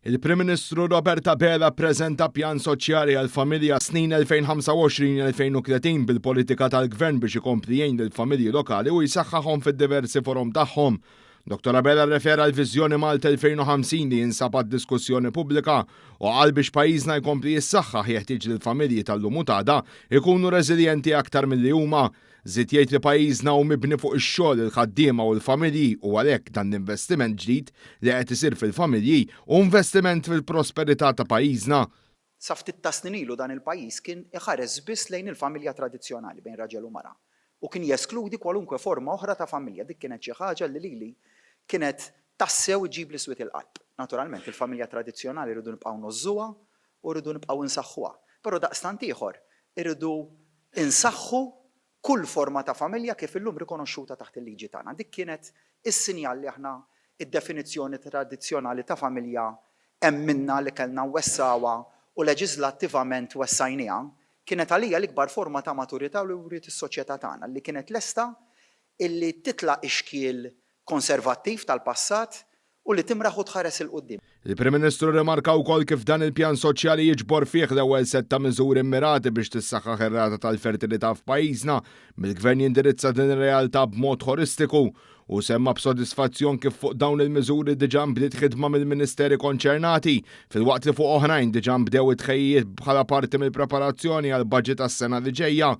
Il-Prim Ministru Robert Abela ppreżenta pjan soċjali għall-familja għas-snin 2025-2030 bil-politika tal-Gvern biex ikompli jgħin lill-familji lokali u jsaħħaħhom fid-diversi forom tagħhom. Dottor Abela rrefera l-Viżjoni Malta 2050 li jinsab għad-diskussjoni pubblika u qal biex pajjiżna jkompli jissaħħaħ jeħtieġ li l-familji tal-lum u tada jkunu reżiljenti aktar milli huma Żied jgħid li pajjiżna hu mibni fuq ix-xogħol, il-ħaddiema u l-familji u għalhekk dan l-investiment ġdid li qed isir fil-familji hu investiment fil-prosperità ta' pajjiżna. Sa ftit tas-snin ilu dan il-pajjiż kien iħares biss lejn il-familja tradizzjonali bejn raġel u mara u kien jeskludi kwalunkwe forma oħra ta' familja. Dik kienet xi ħaġa li lili kienet tassew iġġibli swied il-qalb. Naturalment il-familja tradizzjonali rridu nibqgħu ngħożżuha u rridu nibqgħu nsaħħuha, però daqstant ieħor irridu Insaħħu kull forma ta' familja kif illum rikonoxxuta taħt il-liġi tagħna. Dik kienet is-sinjal li aħna d-definizzjoni tradizzjonali ta' familja emminna li kellna nwessgħuha u leġiżlattivament wessajnieha, kienet għalija l-ikbar forma ta' maturità li wriet is-soċjetà tagħna li kienet lesta illi titla' ix-xkiel konservattiv tal-passat u li timraħ u tħares 'il quddiem. Il-Prim Ministru rrimarka wkoll kif dan il-pjan soċjali jiġbor fih l-ewwel sett ta' miżuri mmirati biex tissaħħaħ ir-rata tal-fertilità f'pajjiżna mill-Gvern jindirizza din ir-realtà b'mod ħolistiku u semma b'sodisfazzjon kif fuq dawn il-miżuri diġà nbdiet ħidma mill-Ministeri konċernati filwaqt li fuq oħrajn diġà nbdew it-tħejjijiet bħala parti mill-preparazzjoni għall-Baġit għas-sena li ġejja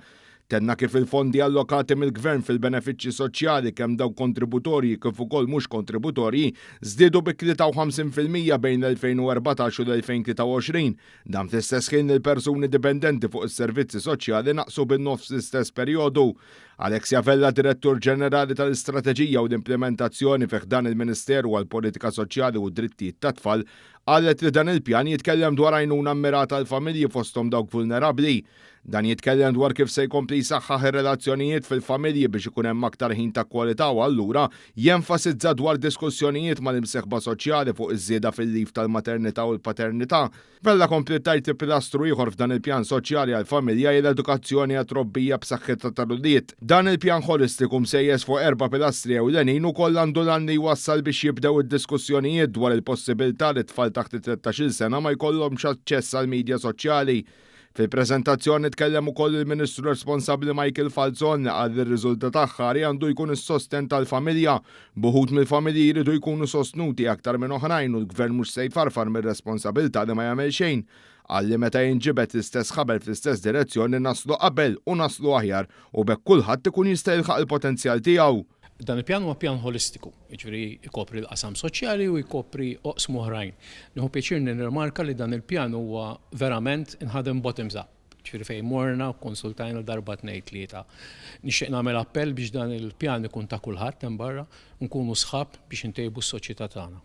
Tenna kif il-fondi allokati mill-Gvern fil-benefiċċji soċjali, kemm dawk kontributorji kif ukoll mhux kontributorji, żdiedu bi 53 fil-mija bejn l-2014 u l-2023. Dan fl-istess ħin li l-persuni dipendenti fuq is-servizzi soċjali naqsu bin-nofs l-istess perjodu. Alexia Vella, Direttur Ġenerali tal-Istrateġija u l-Implimentazzjoni fi ħdan il-Ministeru għall-Politika Soċjali u d-Drittijiet tat-Tfal, qalet li dan il-pjan jitkellem dwar għajnuna mmirata għall-familji fosthom dawk vulnerabbli. Dan jitkellem dwar kif se jkompli jsaħħaħ ir-relazzjonijiet fil-familji biex ikun hemm aktar ħin ta' kwalità u allura jenfasizza dwar diskussjonijiet mal-imsieħba soċjali fuq iż-żieda fil-leave tal-maternità u l-paternità. Vella kompliet tgħid li pilastru ieħor f'dan il-pjan soċjali għall-familja hi l-edukazzjoni għat-trobbija b'saħħitha tal-ulied. Dan il-pjan ħolistiku msejjes fuq erba' pilastri ewlenin ukoll għandu l-għan li jwassal biex jibdew id-diskussjonijiet dwar il-possibilità li t-tfal taħt it-tlettax-il sena ma jkollhomx aċċess għall-midja soċjali, Fil-preżentazzjoni tkellem ukoll il-Ministru responsabbli Michael Falzon li qal li r-riżultat aħħari għandu jkun is-sostenn tal-familja, b'uħud mill-familji jridu jkunu sostnuti aktar minn oħrajn u l-Gvern mhux se jfarfar mir-responsabilità li ma jagħmel xejn. Qal li meta jinġibed l-istess ħabel fl-istess direzzjoni naslu qabel u naslu aħjar u b'hekk kulħadd ikun jista' jilħaq il-potenzjal tiegħu. Dan il-pjan huwa pjan ħolistiku, jiġifieri jkopri l-qasam soċjali u jkopri oqsma oħrajn. Nieħu pjaċir nirrimarka li dan il-pjan huwa verament inħadem bottoms up, jiġifieri fejn morna u kkonsultajna darba tnejn tlieta. Nixtieq nagħmel appell biex dan il-pjan ikun ta' kulħadd hemm barra u nkunu sħab biex intejbu s-soċjetà tagħna.